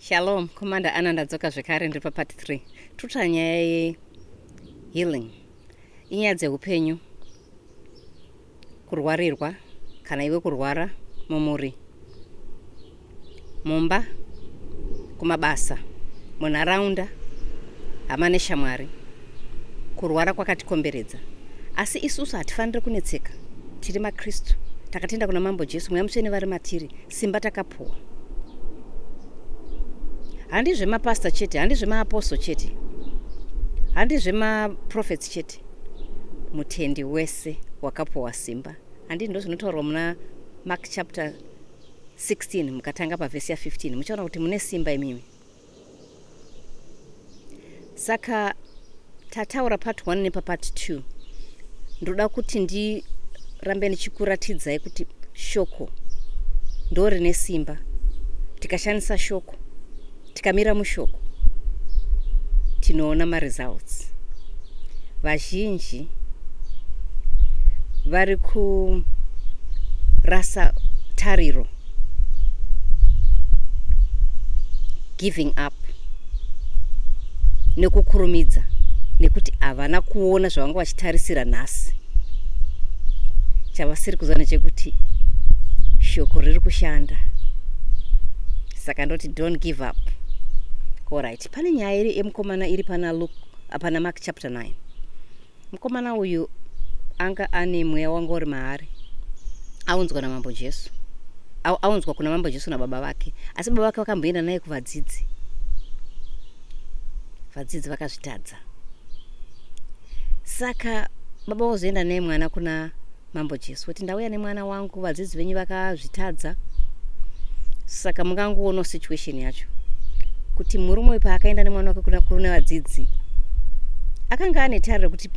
Shalom, Commander Anna ndadzoka zvekare ndiri papart 3. Tuta nyaya ye healing. Inyaya dzehupenyu. Kurwarirwa kana iwe kurwara mumuri. Mumba kumabasa munharaunda hama neshamwari. Kurwara kwakatikomberedza. Asi isusu hatifanire kunetseka. Tiri maKristu. Takatenda kuna Mambo Jesu, Mweya Mutsvene vari matiri. Simba takapuwa handi zvemapastor chete handi zvemaapostle chete handi zvemaprofets chete mutendi wese wakapuwa simba handi ndo zvinotaurwa muna mark chapter 16 mukatanga pavhesi ya 15 muchaona kuti mune simba imimi saka tataura part 1 nepapart 2 ndoda kuti ndirambe ndichikuratidzai kuti shoko ndo rine simba tikashandisa shoko tikamira mushoko tinoona maresults vazhinji vari kurasa tariro giving up nekukurumidza nekuti havana kuona zvavanga vachitarisira nhasi chavasiri kuziva nechekuti shoko riri kushanda saka ndoti don't give up orit pane nyaya iri yemukomana iri pana luk pana mark chapter 9 Mukomana uyu anga ane mweya wanga uri maari aunzwa namambo Jesu aunzwa kuna mambo Jesu nababa vake asi baba vake vakamboenda naye kuvadzidzi vadzidzi vakazvitadza saka baba vozoenda naye mwana kuna Mambo Jesu kuti ndauya nemwana wangu vadzidzi venyu vakazvitadza saka mungangoono situation yacho kuti murume uyu paakaenda nemwana wake kuna kune vadzidzi akanga ane tariro kuti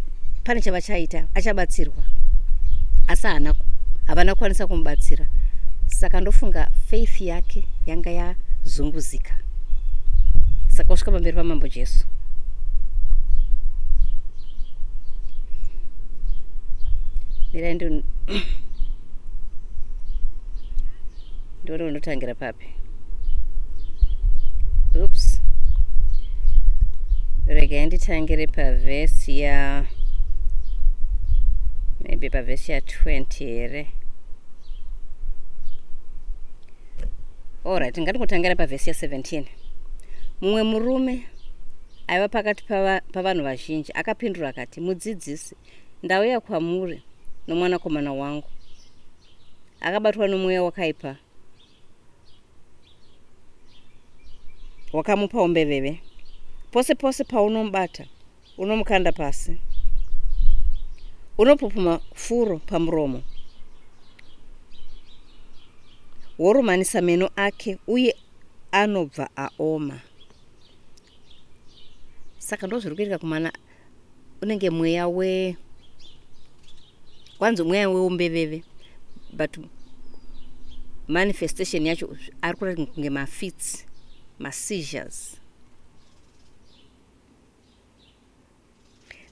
pane chavachaita achabatsirwa asi haana havana kukwanisa kumubatsira saka ndofunga faith yake yanga yazunguzika saka usvika pamberi pamambo jesu mirai ndo ndione unotangira papi oops regai nditangire pavhesi ya maybe pavhesi ya 20 here allright ngandingotangira pavhesi ya 17 mumwe murume aiva pakati pavanhu vazhinji akapindura akati, Mudzidzisi, ndauya kwamuri nomwanakomana wangu. Akabatwa nomweya wakaipa wakamupa umbeveve. Pose pose paunomubata, unomukanda pasi, unopupuma furo pamuromo, worumanisa meno ake uye anobva aoma. saka ndozviri kuitika kumana unenge mweya we kwanzi mweya weumbeveve but manifestation yacho ari kurati kunge mafits maseizures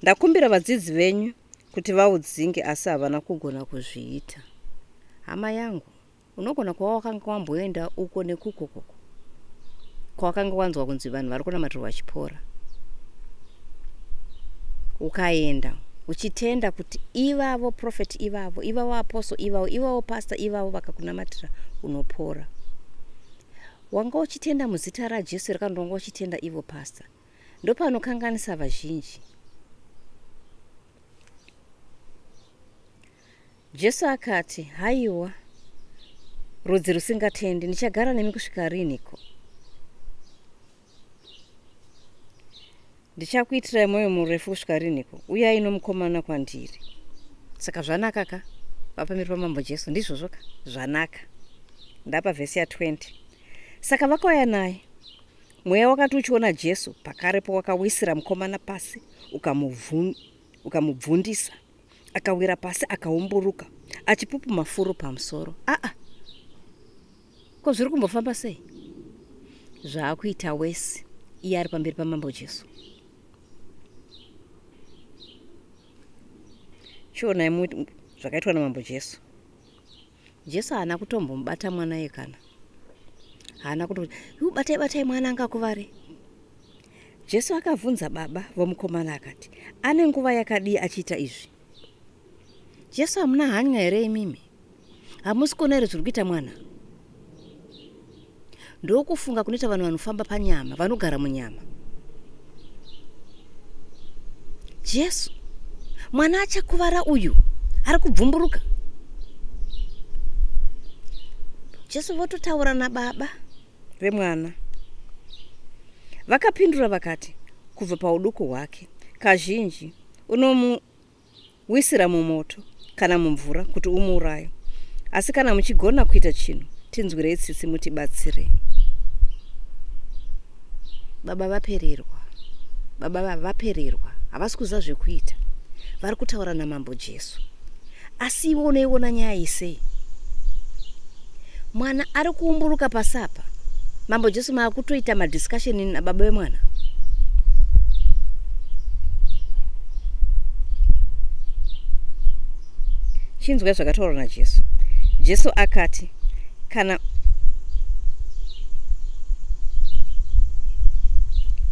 ndakumbira vadzidzi venyu kuti vaudzinge asi havana kugona kuzviita hama yangu Unogona kuva wakanga wamboenda uko nekuko koko kwawakanga wanzwa kunzi vanhu vari kunamatirwa vachipora, ukaenda uchitenda kuti ivavo profeti ivavo, ivavo aposo ivavo, ivavo pasta ivavo vakakunamatira unopora. Wanga uchitenda muzita raJesu here kana kuti wanga uchitenda ivo pasta? Ndopanokanganisa vazhinji. Jesu akati, Haiwa, rudzi rusingatendi, ndichagara nemi kusvika riniko? Ndichakuitirai mwoyo murefu kusvika riniko? Uyai nomukomana kwandiri. Saka zvanaka ka? Vapamberi pamambo Jesu, ndizvozvo ka? Zvanaka. Ndapa vhesi ya 20. Saka vakauya naye. Mweya wakati uchiona Jesu, pakarepo wakawisira mukomana pasi, ukamubvundisa. akawira pasi akaumburuka achipupuma furo pamusoro aa ah, ah. ko zviri kumbofamba sei zvaakuita wese iye ari pamberi pamambo jesu chionai muti zvakaitwa namambo jesu Jesu haana kutombomubata mwana iye kana haana kuto yu batai batai mwana angakuvare jesu akabvunza baba vomukomana akati ane nguva yakadii achiita izvi jesu hamuna hanya here imimi hamusi kuona here zviri kuita mwana Ndokufunga kunoita vanhu vanofamba panyama, vanogara munyama. Jesu, mwana achakuvara uyu ari kubvumburuka. Jesu vototaura nababa vemwana. Vakapindura vakati, kubva pauduku hwake, kazhinji unomu wisira mumoto kana mumvura kuti umuuraye asi kana muchigona kuita chinhu tinzwirei tsitsi mutibatsirei baba vapererwa baba vapererwa havasi kuziva zvekuita vari kutaura namambo jesu asi ivo unoiona nyaya isei mwana ari kuumburuka pasi apa mambo jesu maakutoita madiscussion ini nababa vemwana chinzwai zvakataurwa najesu jesu akati kana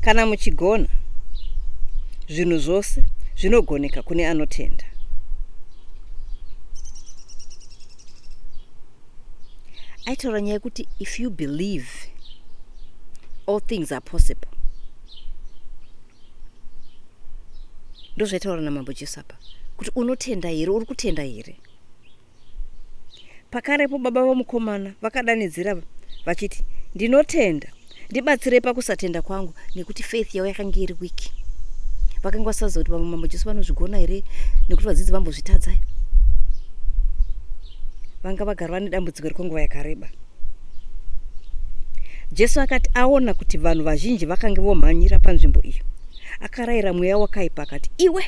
kana muchigona zvinhu zvose zvinogoneka kune anotenda aitaura nyaya yekuti if you believe all things are possible ndozvaitaura namambo jesu apa kuti unotenda here uri kutenda here pakarepo baba vamukomana vakadanidzira vachiti ndinotenda ndibatsirei pakusatenda kwangu nekuti faith yavo yakange iri weak vakanga vasaziva kuti vamwe mambo jesu vanozvigona here nekuti vadzidzi vambozvitadzai vanga vagara vane dambudziko rekwenguva yakareba jesu akati aona kuti vanhu vazhinji vakange vomhanyira panzvimbo iyo akarayira mweya wakaipa akati iwe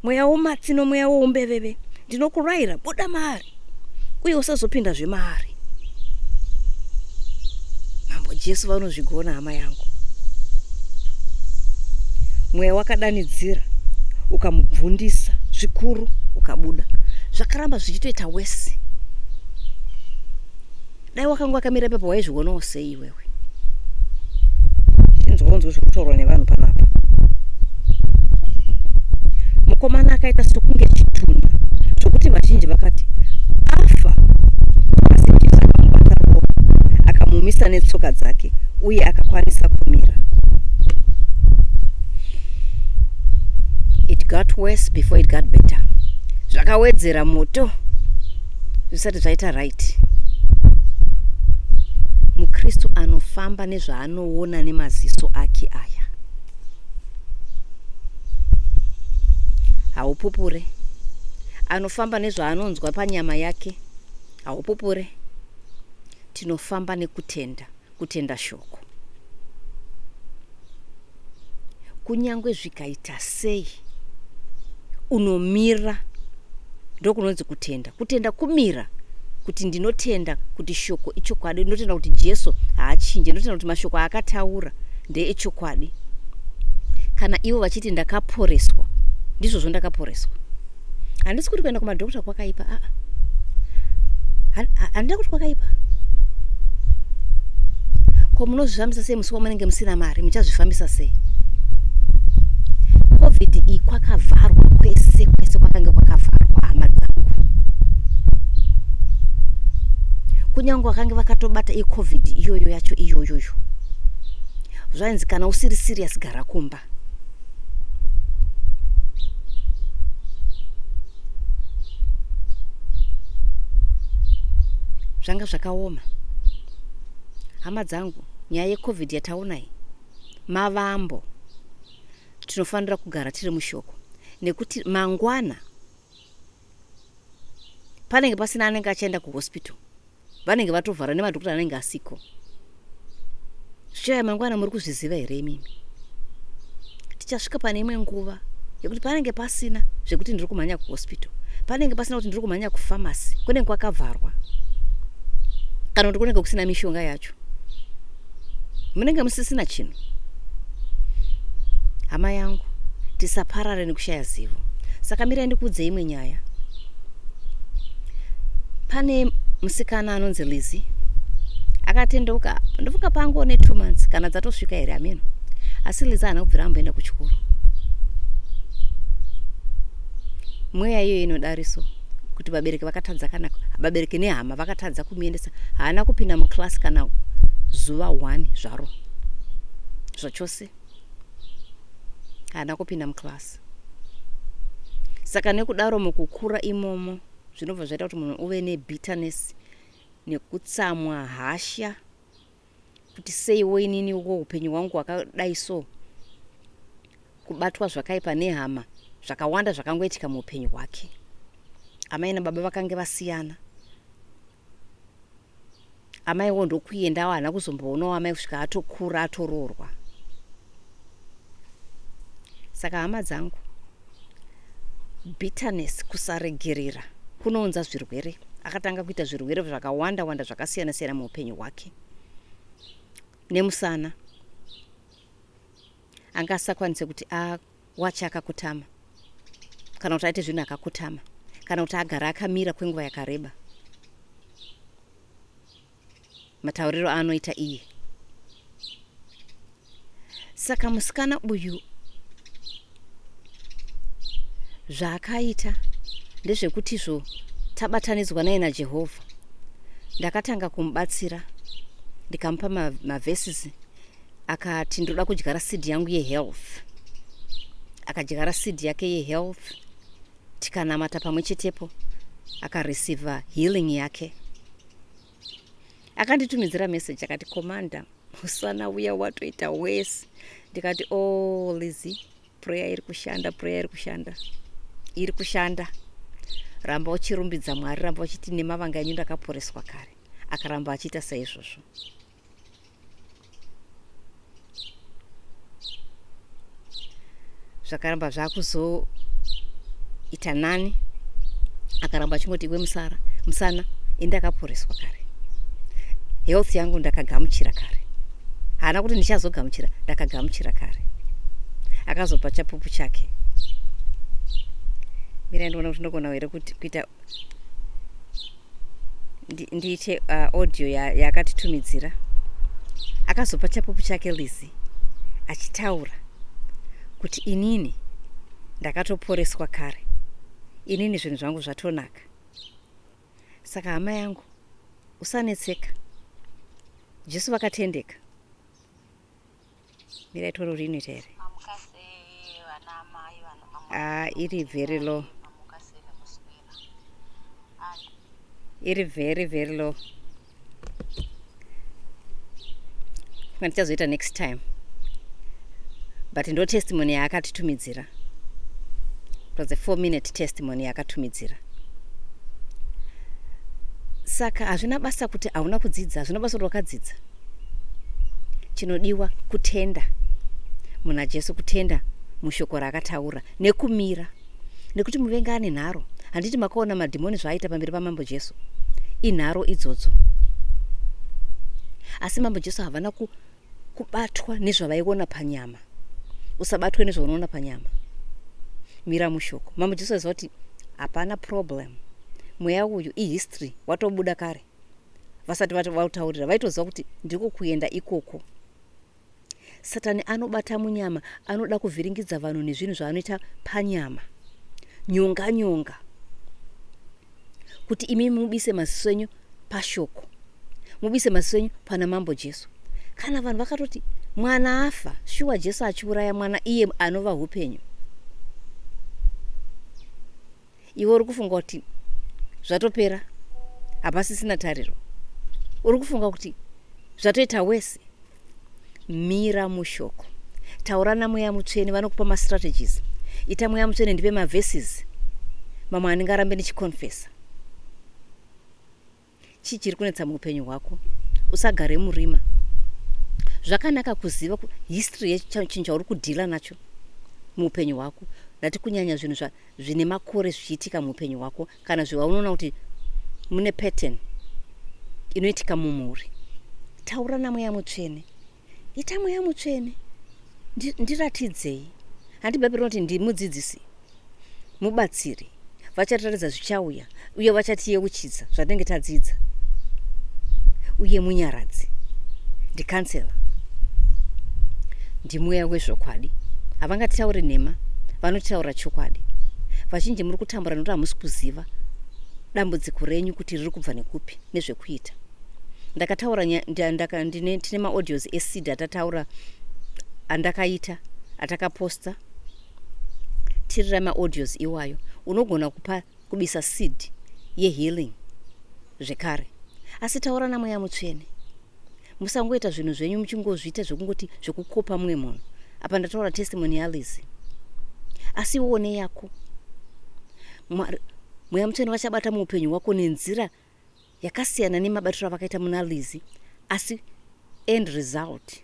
mweya womatsi nomweya woumbeveve ndinokurayira buda maari uye usazopinda zvemaari mambo jesu vanozvigona hama yangu mweya wakadanidzira ukamubvundisa zvikuru ukabuda zvakaramba zvichitoita wesi dai wakanga wakamira pepa waizvionawo sei iwewe chinzwaonzwe zviri kutaurwa nevanhu panapa mukomana akaita sokunge chitunha zvokuti vazhinji vakati afa asi jesu akamubata ruoko akamumisa netsoka dzake uye akakwanisa kumira it got worse before it got better zvakawedzera moto zvisati zvaita right mukristu anofamba nezvaanoona nemaziso ake aya haupupure anofamba nezvaanonzwa panyama yake haupupure tinofamba nekutenda kutenda shoko kunyange zvikaita sei unomira ndokunonzi kutenda kutenda kumira kuti ndinotenda kuti shoko ichokwadi ndinotenda kuti jesu haachinje ndinotenda kuti mashoko aakataura ndeechokwadi kana ivo vachiti ndakaporeswa ndizvozvo ndakaporeswa handisi kuti kuenda kumadokta kwakaipa aa handida kuti kwakaipa ko munozvifambisa sei musi wamunenge musina mari muchazvifambisa sei covid iyi kwakavharwa kwese kwese kwakange kwakavharwa hama dzangu kunyange vakange vakatobata icovid iyoyo yacho iyoyoyo zvainzi kana usiri sirius gara kumba zvanga zvakaoma hama dzangu nyaya yecovid yataonai mavambo tinofanira kugara tiri mushoko nekuti mangwana panenge pasina anenge achaenda kuhospital vanenge vatovhara nemadokota anenge asiko zvichauya mangwana muri kuzviziva here imimi tichasvika pane imwe nguva yekuti panenge pasina zvekuti ndiri kumhanya kuhospital panenge pasina kuti ndiri kumhanya kufamasi kunenge kwakavharwa kana kuti kunenge kusina mishonga yacho munenge musisina chinhu hama yangu tisaparare nekushaya zivo saka mirai ndikuudze imwe nyaya pane musikana anonzi lizi akatendeuka ndofunga pango ne two months kana dzatosvika here ameno asi lizi haana kubvira amboenda kuchikoro mweya iyoyo inodariso kuti vabereki vakatadza kana vabereki nehama vakatadza kumuendesa haana kupinda muclass kana zuva one zvaro zvachose haana kupinda muclass saka nekudaro mukukura imomo zvinobva zvaita kuti munhu uve nebitterness nekutsamwa hasha kuti seiwo inini uko upenyu hwangu hwakadai so kubatwa zvakaipa nehama zvakawanda zvakangoitika muupenyu hwake amai nababa vakange vasiyana amaiwo ndokuendawo haana kuzomboonawo amai kusvika atokura atoroorwa saka hama dzangu bitterness kusaregerera kunounza zvirwere akatanga kuita zvirwere zvakawanda wanda zvakasiyana siyana muupenyu hwake nemusana anga asakwanise kuti awache akakutama kana kuti aite zvinhu akakutama kana kuti agara akamira kwenguva yakareba matauriro aanoita iye saka musikana uyu zvaakaita ndezvekuti zvo tabatanidzwa naye najehovha ndakatanga kumubatsira ndikamupa maverses ma akati ndoda kudyara seed yangu yehealth akadyara seed yake yehealth tikanamata pamwe chetepo akareceiva healing yake akanditumidzira message akati commander musana uya watoita wese ndikati o oh, lizy prayer iri kushanda prayer iri kushanda iri kushanda ramba uchirumbidza mwari ramba uchiti nemavanga enyu ndakaporeswa kare akaramba achiita saizvozvo zvakaramba zvakuzoita nani akaramba achingoti iwe musara musana indakaporeswa kare health yangu ndakagamuchira kare haana kuti ndichazogamuchira ndakagamuchira kare akazopa chapupu chake mira ndiona kuti ndogona here kuita ndiite uh, audio yakatitumidzira ya akazopa chapupu chake lizi achitaura kuti inini ndakatoporeswa kare inini zvinhu zvangu zvatonaka saka hama yangu usanetseka jesu vakatendeka mira itoro rinoita here ah, iri very low iri very very low funa tichazoita next time but ndo testimony yaakatitumidzira it was a four minute testimony yaakatumidzira saka hazvina basa kuti hauna kudzidza hazvina basa kuti wakadzidza chinodiwa kutenda muna jesu kutenda mushoko raakataura nekumira nekuti muvengi ane nharo handiti makaona madhimoni zvaaita pamberi pamambo jesu inharo idzodzo asi mambo jesu havana ku, kubatwa nezvavaiona panyama usabatwe nezvaunoona panyama mira mushoko mambo jesu aiziva kuti hapana problem mweya uyu ihistory watobuda kare vasati vataurira vaitoziva kuti ndiko kuenda ikoko satani anobata munyama anoda kuvhiringidza vanhu nezvinhu zvaanoita panyama nyonga nyonga kuti imi mubise maziso enyu pashoko mubise maziso enyu pana mambo jesu kana vanhu vakatoti mwana afa shuwa jesu achiuraya mwana iye anova upenyu iwe uri kufunga kuti zvatopera hapasisina tariro uri kufunga kuti zvatoita wese mira mushoko taura namweya mutsvene vanokupa mastrategies ita mweya mutsvene ndipe maverses mamwe andingarambe ndichiconfesa chii chiri kunetsa muupenyu hwako usagare murima zvakanaka kuziva history yechinhu chauri kudhila nacho muupenyu hwako ndati kunyanya zvinhu zvine makore zvichiitika muupenyu hwako kana zvewaunoona kuti mune pattern inoitika mumhuri taura namweya mutsvene ita mweya mutsvene ndiratidzei handi bhaibheri rinoti ndimudzidzisi mubatsiri vachataridza zvichauya uye vachatiyeuchidza zvatinenge tadzidza uye munyaradzi ndikansela ndimweya wezvokwadi havangatitauri nhema vanotaura chokwadi vazhinji muri kutambura nokuti hamusi kuziva dambudziko renyu kuti riri kubva nekupi nezvekuita ndakataura tine maaudios esid atataura andakaita atakaposta tirira maaudios iwayo unogona kupa kubisa seed yehealing zvekare asi taura namweya mutsvene musangoita zvinhu zvenyu muchingozviita zvekungoti zvekukopa mumwe munhu apa ndataura testimony yalizi asi iwone yako mweya mutsvene vachabata muupenyu hwako nenzira yakasiyana nemabatiro avakaita muna Lizzy asi end result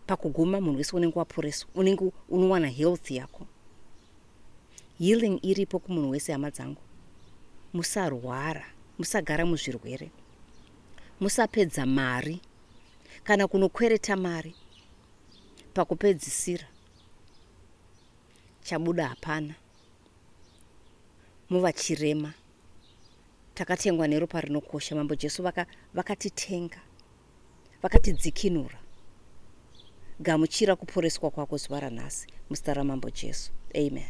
pakuguma munhu wese unenge waporeswa unenge unowana health yako healing iripo kumunhu wese hama dzangu musarwara musagara muzvirwere musapedza mari kana kunokwereta mari pakupedzisira chabuda hapana muva chirema Takatengwa neropa rinokosha. Mambo Jesu vaka, vakatitenga. Vakatidzikinura. Gamuchira kuporeswa kwako zuva ranhasi. Muzita raMambo Jesu. Amen.